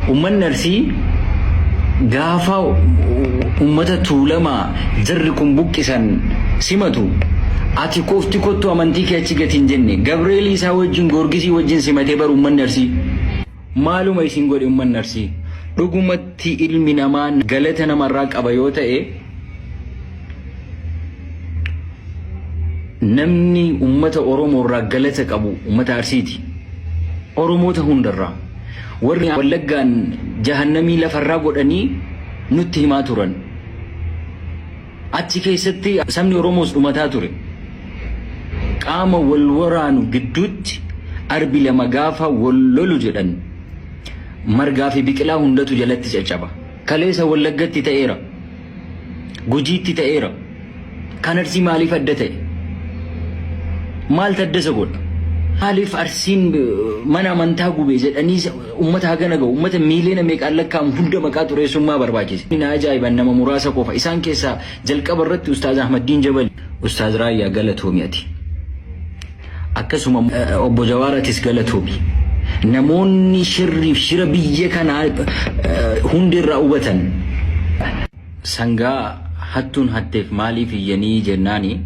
Uummanni Arsii gaafa uummata Tuulamaa jarri kun buqqisan simatu ati qofti kottu amantii kee achi gati hin jenne. Gabreelii isaa wajjin Goorgisii wajjin simatee bar uummanni Arsii. Maaluma isin godhe uummanni Arsii? Dhugumatti ilmi namaa galata namarraa qaba yoo ta'e namni uummata Oromoorraa galata qabu uummata Arsiiti. Oromoota hundarraa. Warri Wallaggaan jahannamii lafarraa godhanii nutti himaa turan. Achi keessatti sabni Oromoos dhumataa ture. Qaama wal waraanu gidduutti arbi lama gaafa wal lolu jedhan margaa fi biqilaa hundatu jalatti caccaba. Kaleessa Wallaggatti ta'eera. Gujiitti ta'eera. Kan Arsii maaliif adda ta'e? Maal taddasa godha? Maaliif Arsiin mana amantaa gube jedhanii uummata hagana gahu uummata miiliyoona meeqaan lakkaa'amu hunda maqaa xureessummaa barbaachise. Na ajaa'iban nama muraasa qofa. Isaan keessaa jalqaba irratti Ustaaz Ahmaddiin Jabali. Ustaaz Raayyaa galatoomi ati. Akkasuma obbo Jawaaratis galatoomi. Namoonni shirriif shira biyya kanaa hundi irraa hubatan. Sangaa hattuun hatteef maaliif iyyanii jennaani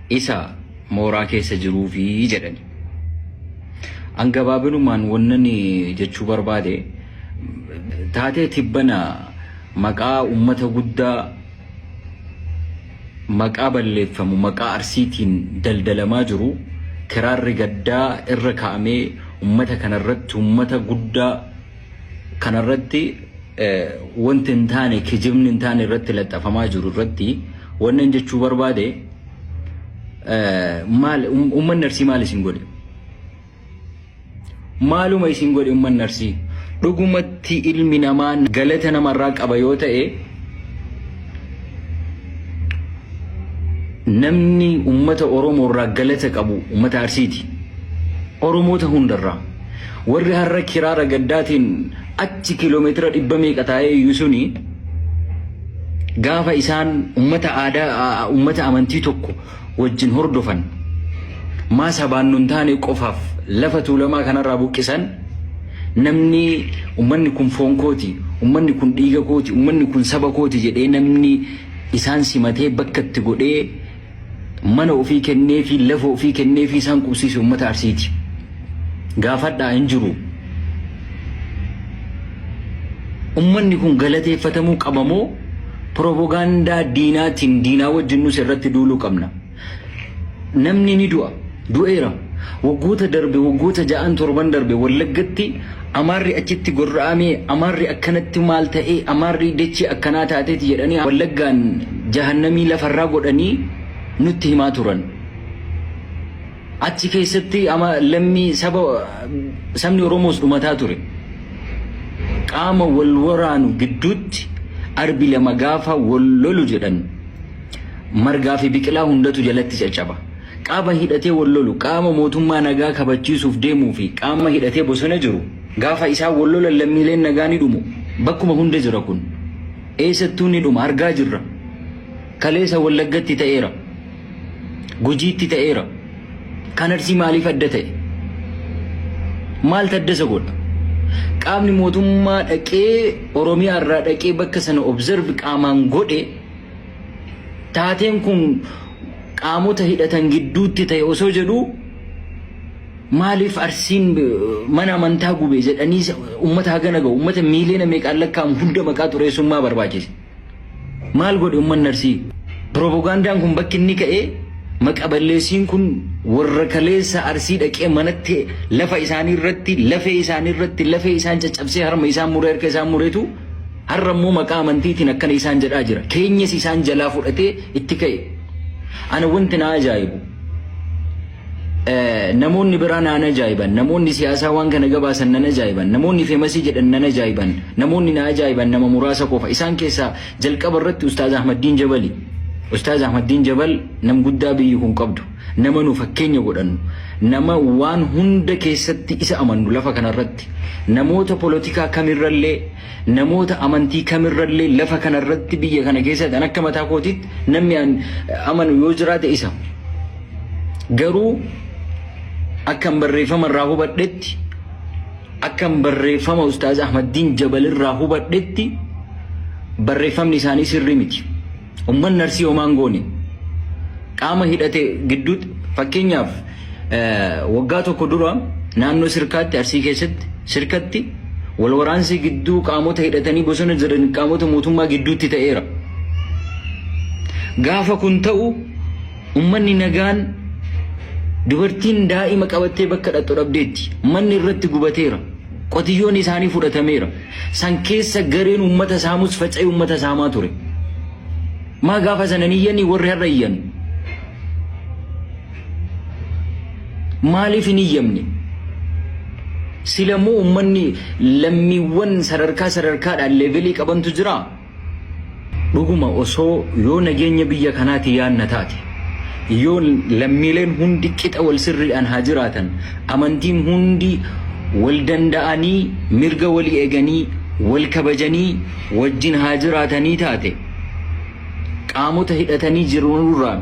isa mooraa keessa jiruufi jedhani. An gabaabinumaan wannan jechuu barbaade taatee tibbana maqaa ummata guddaa Maqaa balleeffamu maqaa Arsiitiin daldalamaa jiru kiraarri gaddaa irra kaa'amee ummata kana irratti ummata guddaa kana irratti wanti hin taane kijibni hin taane irratti laxxafamaa jiru irratti wannan jechuu barbaade maal ummanni Arsii maal isin godhe? Maaluma isin godhe ummanni Arsii? Dhugumatti ilmi namaa galata namarraa qaba yoo ta'e namni ummata Oromoorraa galata qabu ummata Arsiiti. Oromoota hundarraa. Warri har'a kiraara gaddaatiin achi kiiloomeetira dhibba meeqa taa'ee iyyuu suni gaafa isaan ummata aadaa ummata amantii tokko wajjin hordofan maa sabaan nun taane qofaaf lafa tuulamaa kanarraa buqqisan namni ummanni kun foon kooti ummanni kun dhiiga kooti ummanni kun saba kooti jedhee namni isaan simatee bakka itti godhee mana ofii kennee fi lafa ofii kennee fi isaan qubsiise ummata arsiiti. gaafadhaa hin jiru. Ummanni kun galateeffatamuu qaba moo piropogaandaa diinaatiin diinaa wajjin nus irratti duuluu qabna. Namni ni du'a. Du'eera. Waggoota darbe waggoota ja'an torban darbe wallaggatti amaarri achitti gorra'amee amaarri akkanatti maal ta'ee amaarri dachee akkanaa taateeti jedhanii wallaggaan jahannamii lafarraa godhanii nutti himaa turan. Achi keessatti ama lammii saba sabni Oromoos dhumataa ture. Qaama wal waraanu gidduutti arbi lama gaafa wal lolu jedhan margaa fi biqilaa hundatu jalatti caccaba. Qaama hidhatee wal lolu qaama mootummaa nagaa kabachiisuuf deemuu fi qaama hidhatee bosona jiru gaafa isaan wal lolan lammiileen nagaa ni dhumu. Bakkuma hunda jira kun. Eessattuu ni dhuma argaa jirra. Kaleessa Wallaggatti ta'eera. Gujiitti ta'eera. Kan Arsii maaliif adda ta'e? Maal taddasa godha? Qaamni mootummaa dhaqee Oromiyaa irraa dhaqee bakka sana observe qaamaan godhe taateen kun qaamota hidhatan gidduutti ta'e osoo jedhu maaliif Arsiin eh, mana amantaa gube jedhanii uummata hagana ga'u uummata miiliyoona meeqaan lakkaa'amu hunda maqaa xureessummaa barbaachise. Maal godhe ummanni Arsii? Piropogaandaan kun bakki inni ka'e maqa balleessiin kun warra kaleessa Arsii dhaqee manatti lafa isaanii irratti lafee isaanii irratti lafee isaan caccabsee harma isaan muree harka isaan muretu har'a immoo maqaa amantiitiin akkana isaan jedhaa jira. Keenyas isaan jalaa fudhatee itti ka'e. Ana wanti na ajaa'ibu Namoonni biraa naan ajaa'iban. Namoonni siyaasaa waan kana gabaasan nan ajaa'iban. Namoonni feemasii jedhan nan ajaa'iban. Namoonni na ajaa'iban nama muraasa qofa. Isaan keessaa jalqaba irratti Ustaaz Ahmaddiin Jabali. Ustaaz Ahmaddiin Jabal nam guddaa biyyi kun qabdu. Nama nu fakkeenya godhannu. Nama waan hunda keessatti isa amannu lafa kanarratti. Namoota polotikaa kamirrallee Namoota amantii kamirrallee lafa kanarratti biyya kana keessatti an akka mataa kootiitti namni an amanu yoo jiraate isa. Garuu akkan barreeffama irraa hubadhetti akkan barreeffama Ustaaz Ahmaddiin Jabal irraa hubadhetti barreeffamni isaanii sirrii miti. Ummanni Arsii homaan goone qaama hidhate gidduutti fakkeenyaaf waggaa tokko dura naannoo sirkaatti arsii keessatti sirkatti wal waraansi gidduu qaamota hidhatanii bosona jiran qaamota mootummaa gidduutti ta'eera. Gaafa kun ta'u ummanni nagaan dubartiin daa'ima qabattee bakka dhaqxu dhabdeetti manni irratti gubateera qotiyyoon isaanii fudhatameera. San keessa gareen uummata saamus faca'ee uummata saamaa ture. Maa gaafa sana hin iyyanii warri har'a iyyan? Maaliif hin iyyamne? Silamuu uummanni lammiiwwan sadarkaa sadarkaadhaan leevelii qabantu jiraa? Dhuguma osoo yoo nageenya biyya kanaati yaanna taate, yoo lammiileen hundi qixa wal sirriidhaan haa jiraatan, amantiin hundi wal danda'anii mirga walii eganii, wal kabajanii wajjin haa jiraatanii taate, qaamota hidhatanii jiranurraan,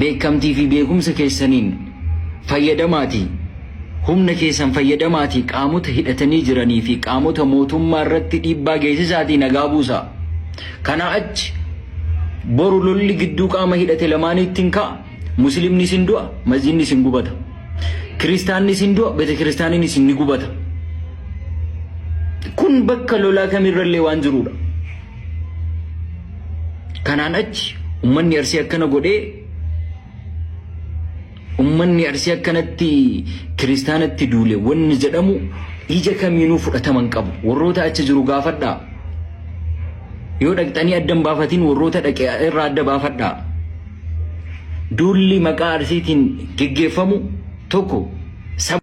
beekkamtii fi beekumsa keessaniin fayyadamaatii humna keessan fayyadamaatii qaamota hidhatanii jiranii fi qaamota mootummaa irratti dhiibbaa geessisaatii nagaa buusaa. Kanaa achi boru lolli gidduu qaama hidhate lamaaniitti hin ka'a. Musliimnis hin du'a, masjidnis hin gubata. Kiristaannis hin du'a, betekiristaaniinis ni gubata. Kun bakka lolaa kamirrallee waan jiruudha. Kanaan achi ummanni arsii akkana godhee ummanni arsii akkanatti kiristaanatti duule wanni jedhamu ija kamiinuu fudhataman qabu. Warroota achi jiru gaafadhaa. Yoo dhaqxanii adda hin baafatiin warroota dhaqe irraa adda baafadhaa. Duulli maqaa arsiitiin geggeeffamu tokko saba.